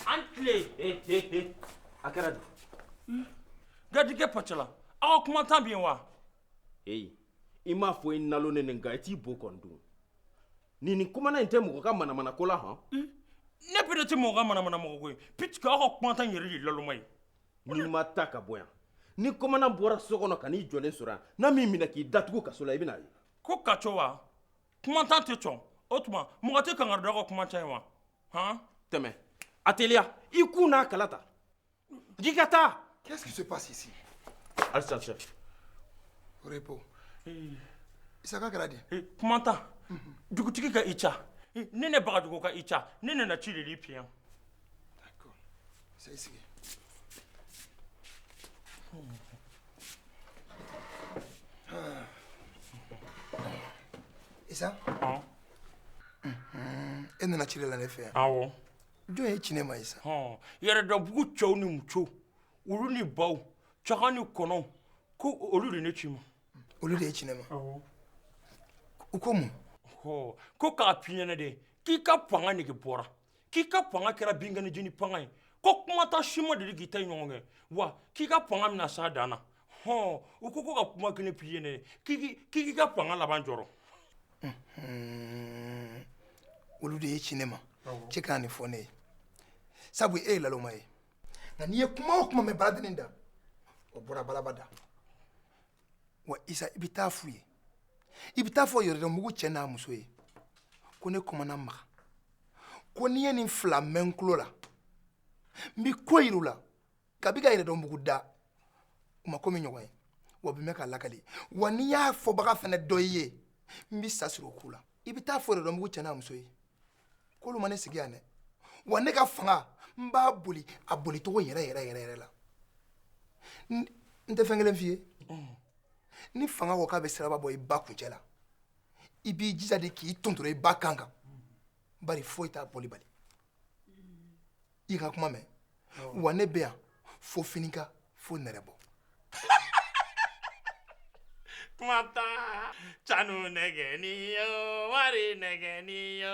An tile a kɛra don garijɛgɛ pala aw ka kumandan bɛ yen wa ee i m'a fɔ i nalonen nin i t'i bɔ kɔn don nin ni kumandan tɛ mɔgɔ ka manamana ko la hɔn ne bere tɛ mɔgɔ ka manamana mɔgɔ koyi ptu aw ka kumandan yɛrɛ ye laloma ye n'i ma taa ka bɔ yan ni kumandan bɔra so kɔnɔ ka n'i jɔlen sɔrɔ yan n'a m'i minɛ k'i datugu kaso la i bɛna na ye ko ka co wa kumandan tɛ sɔn o tuma mɔgɔ tɛ kankari da aw ka kumandan ye wa han tɛmɛ a teliya i kun n'a kala ta n'i ka taa Qu'est-ce qui se passe ici? Alisa cɛ Repos. Isaka kɛra di? Kumandan dugutigi ka Isa ne ne bagajugu ka Isa ne nana ci de l'i fɛ yan D'accord. Ça y est, c'est Et ça ah. Et nous la la ne fɛ Ah bon jɔn y'i ci ne ma Isa yɛrɛdɔnbugu cɛw ni musow olu ni baw saga ni kɔnɔw ko olu de ne c'i ma olu de y'i ci ne ma u ko mun ko k'a f'i ɲɛna de k'i ka fanga nege bɔra k'i ka fanga kɛra binkaniji ni fanga ye ko kumandan si ma deli k'i ta ɲɔgɔn kɛ wa k'i ka fanga bɛna s'a dan na hɔn u ko ko ka kuma kelen f'i ye ne ye k'i k'i- k'i k'i ka fanga laban jɔrɔ olu de y'i ci ne ma i kana nin fɔ ne ye sabu e ye laloma ye nka n'i ye kuma o kuma mɛn baladennin da o bɔra balaba da wa isa i bɛ taa f'u ye i bɛ taa fɔ yɛrɛdɔnbugu cɛ n'a muso ye ko ne kumandan maga ko ni n ye nin fila mɛn n tulo la n bɛ ko jira u la kabi ka yɛrɛdɔnbugu da u ma ko min ɲɔgɔn ye wa u bɛ mɛn k'a lakali wa n'i y'a fɔbaga fana dɔn i ye n bɛ sa siri o ko la i bɛ taa fɔ yɛrɛdɔnbugu cɛ n'a muso ye k'olu ma ne sigi yan dɛ wa ne ka fanga n b'a boli a bolicogo yɛrɛ yɛrɛ yɛrɛ yɛrɛ la n tɛ fɛn kelen f'i ye ni fanga ko k'a bɛ siraba bɔ i ba kuncɛ la i b'i jija de k'i tondoro i ba kan kan bari foyi t'a bɔli bali i ka kuma mɛn wa ne bɛ yan fo finikan fo nɛrɛbɔ kumandan sanu nɛgɛnin yo wari nɛgɛnin yo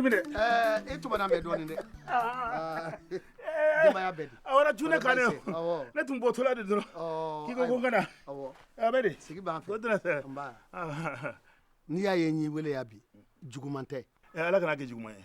Minɛ e tu bɛ dɔɔnin dɛ a j ka ne tun bɔ tora de dɔrɔn k'i ko ko kana sigi n'i y'a ye n y'i weele bi juguman tɛ ala kan'a kɛ juguman ye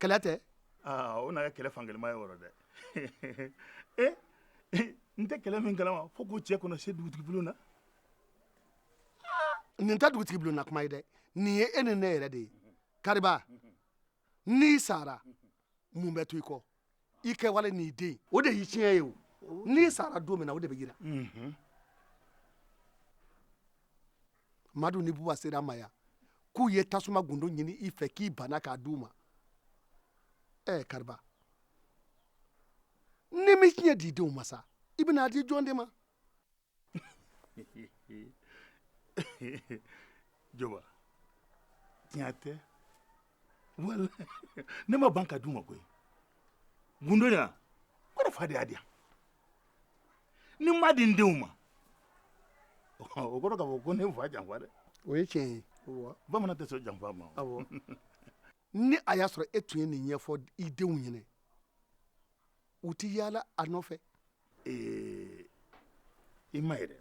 kɛlɛ tɛ aa o na kɛ kɛlɛ fankelenma ye o rɔ dɛ ee n tɛ kɛlɛ min kalama fo k'o cɛ k'o na se dugutigibulon na nin tɛ dugutigibulon na kuma ye dɛ nin ye e ni ne yɛrɛ de ye kariba n'i sara mun bɛ to i kɔ i kɛwale n'i den o de y'i tiɲɛ ye o n'i sara don min na o de bɛ jira mhm. madu ni buba sera n ma yan k'u ye tasuma gundo ɲini i fɛ k'i banna k'a d'u ma ɛ kariba n'i m'i tiɲɛ di i denw ma sa i bɛna a di jɔn de ma jɔba tiɲɛ tɛ wala ne ma ban k'a d'u ma koyi gundo yan o de fa de y'a di yan ni n m'a di n denw ma o kɔrɔ k'a fɔ ko ne ye n fa janfa dɛ o ye tiɲɛ ye bamanan tɛ sɔn janfa ma ni a y'a sɔrɔ e tun ye nin ɲɛfɔ i denw ɲɛna u tɛ yaala a nɔfɛ ee i m'a ye dɛ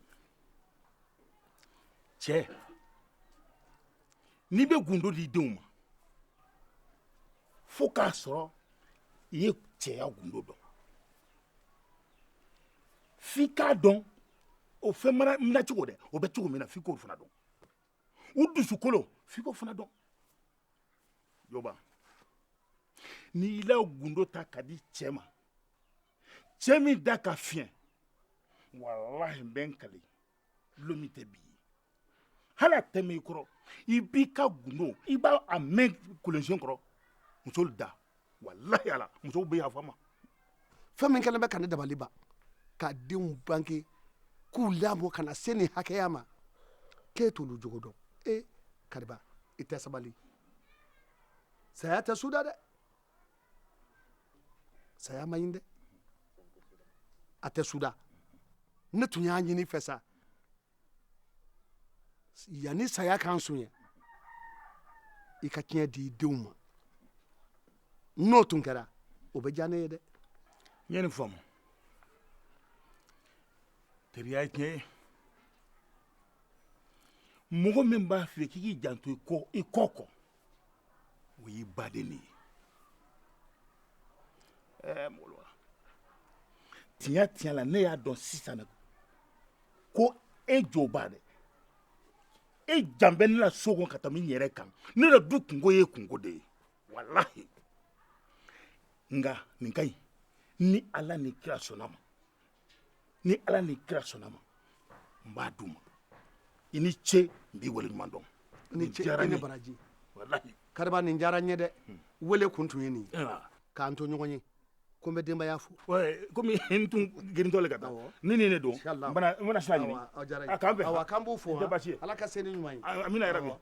cɛ n'i bɛ gundo di denw ma fo k'a sɔrɔ i ye cɛya gundo dɔn f'i k'a dɔn o fɛn minɛ cogo dɛ o bɛ cogo min na f'i k'o fana dɔn u dusukolo f'i k'o fana dɔn jɔba n'i y'i la gundo ta k'a di cɛ ma cɛ min da ka fiɲɛ walahi n bɛ n kali lon min tɛ bi ye hali a tɛ mɛn i kɔrɔ i b'i ka gundo i b'a a mɛn kolonsen kɔrɔ musolu da walahi ala musow bɛ yafa n ma fɛn min kɛlen bɛ ka ne dabali ban ka denw bange k'u lamɔ ka na se nin hakɛya ma k'e t'olu jogo dɔn e kariba i tɛ sabali saya tɛ suda dɛ saya man ɲi dɛ a tɛ suda ne tun y'a ɲini i fɛ sa yanni saya k'an sonya i ka tiɲɛ di i denw ma n'o tun kɛra o bɛ diya ne ye dɛ n ye nin faamu teriya ye tiɲɛ ye mɔgɔ min b'a fɛ k'i k'i janto i kɔ kɔ o y'i baden de ye ɛɛ mɔgɔ tiɲɛ tiɲɛ la ne y'a dɔn sisan ko e jo b'a dɛ e jan bɛ ne la so kɔnɔ ka tɛmɛ n yɛrɛ kan ne la du kunko y'i kunko de ye walahi nka nin ka ɲi ni ala ni kira sɔnn'a ma ni ala ni kira sɔnn'a ma n b'a d'u ma i ni ce n b'i waleɲuman dɔn i ni ce i ni baraji walahi kariba nin diyara n ye dɛ wele kun tun ye nin ye k'an to ɲɔgɔn ye ko n bɛ denbaya fo komi n tun girintɔ le ka taa ni nin de don n bɛna sira ɲini a k'an bɛn a k'an bɛn o diyara n ye a k'an b'u fo ala ka seli ɲuman ye amina yarabi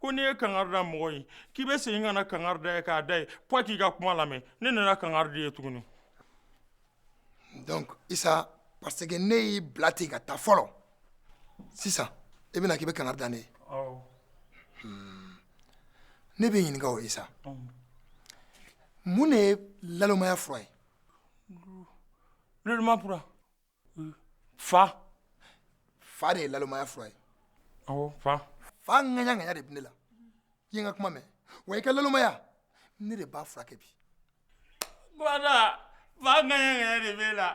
ko n'i ye kangari da mɔgɔ ye k'i bɛ segin ka na kangari d'a ye k'a da ye f'a k'i ka kuma lamɛn ne nana kangari da i ye tuguni donc isa parce que ne y'i bila ten ka taa fɔlɔ sisan i bɛ na k'i bɛ kangari da ne ye awɔ hun ne b'i ɲininka o isa mun de ye nalonmaya fura ye nalonmaya fura fa fa de ye nalonmaya fura ye fa fa ŋayaŋaya de bɛ ne la i ka kuma mɛn wa i ka nalonmaya ne de b'a furakɛ bi fa ŋayaŋaya de b'e la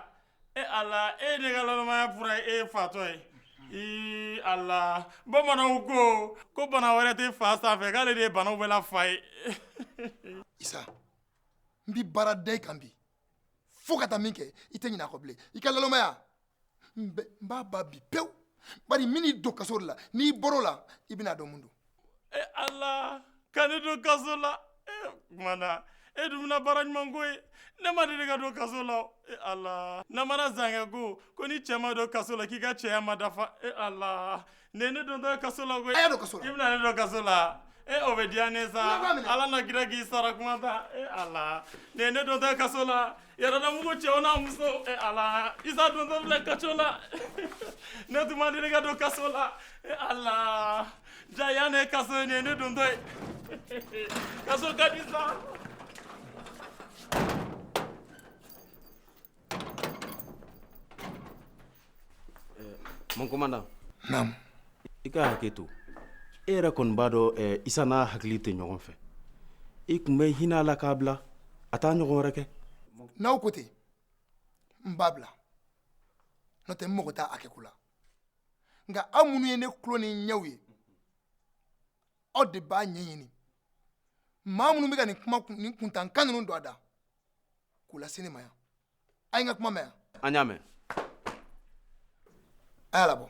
e ala e ne ka nalonmaya fura ye fatɔ ye ala bamananw ko ko bana wɛrɛ tɛ fa sanfɛ k'ale de ye bana bɛɛ fa ye n bɛ baara d'i kan bi fo ka taa min kɛ i tɛ ɲinɛ a kɔ bilen i ka nalonmaya n bɛ- n b'a ban bi pewu bari n bɛn'i don kaso de la n'i bɔr'o la i bɛna a dɔn mun don e ala ka ne don kaso la e commandant e dun bɛna baara ɲuman kɛ n ye ne ma deli ka don kaso la o. e ala namara zankɛ ko ko ni cɛ ma don kaso la k'i ka cɛya ma dafa e ala Nin ne dontɔ kaso la koyi. A y'a don kaso la. I bɛna ne don kaso la. E o bɛ diya ne sa. Ala n'a kira k'i sara commandant. E Ala. Nin ne dontɔ kaso la. Yɛrɛdɔnbugu cɛw n'a musow. E Ala. Isa dontɔ filɛ kaso la. Ne tun ma deli ka don kaso la. E Ala. Jaa yan ne kaso ye nin ye ne dontɔ ye. Kaso ka di sa. Mon commandant namu i ka hakɛ to e yɛrɛ kɔni b'a dɔn eh, isa n'a hakili tɛ ɲɔgɔn fɛ i tun bɛ hinɛ a la k'a bila a t'a ɲɔgɔn wɛrɛ kɛ n'aw ko ten n b'a bila n'o tɛ n mago t'a hakɛ ko la nka aw minnu ye ne tulo ni n ɲɛw ye aw de b'a ɲɛɲini maa minnu bɛ ka nin kuma kun- nin kuntankan ninnu don a da k'u lase ne ma yan a ye n ka kuma mɛn an y'a mɛn a y'a labɔ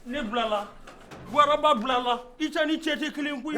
ne bilala waraba bilala i cɛ ni cɛ tɛ kelen koyi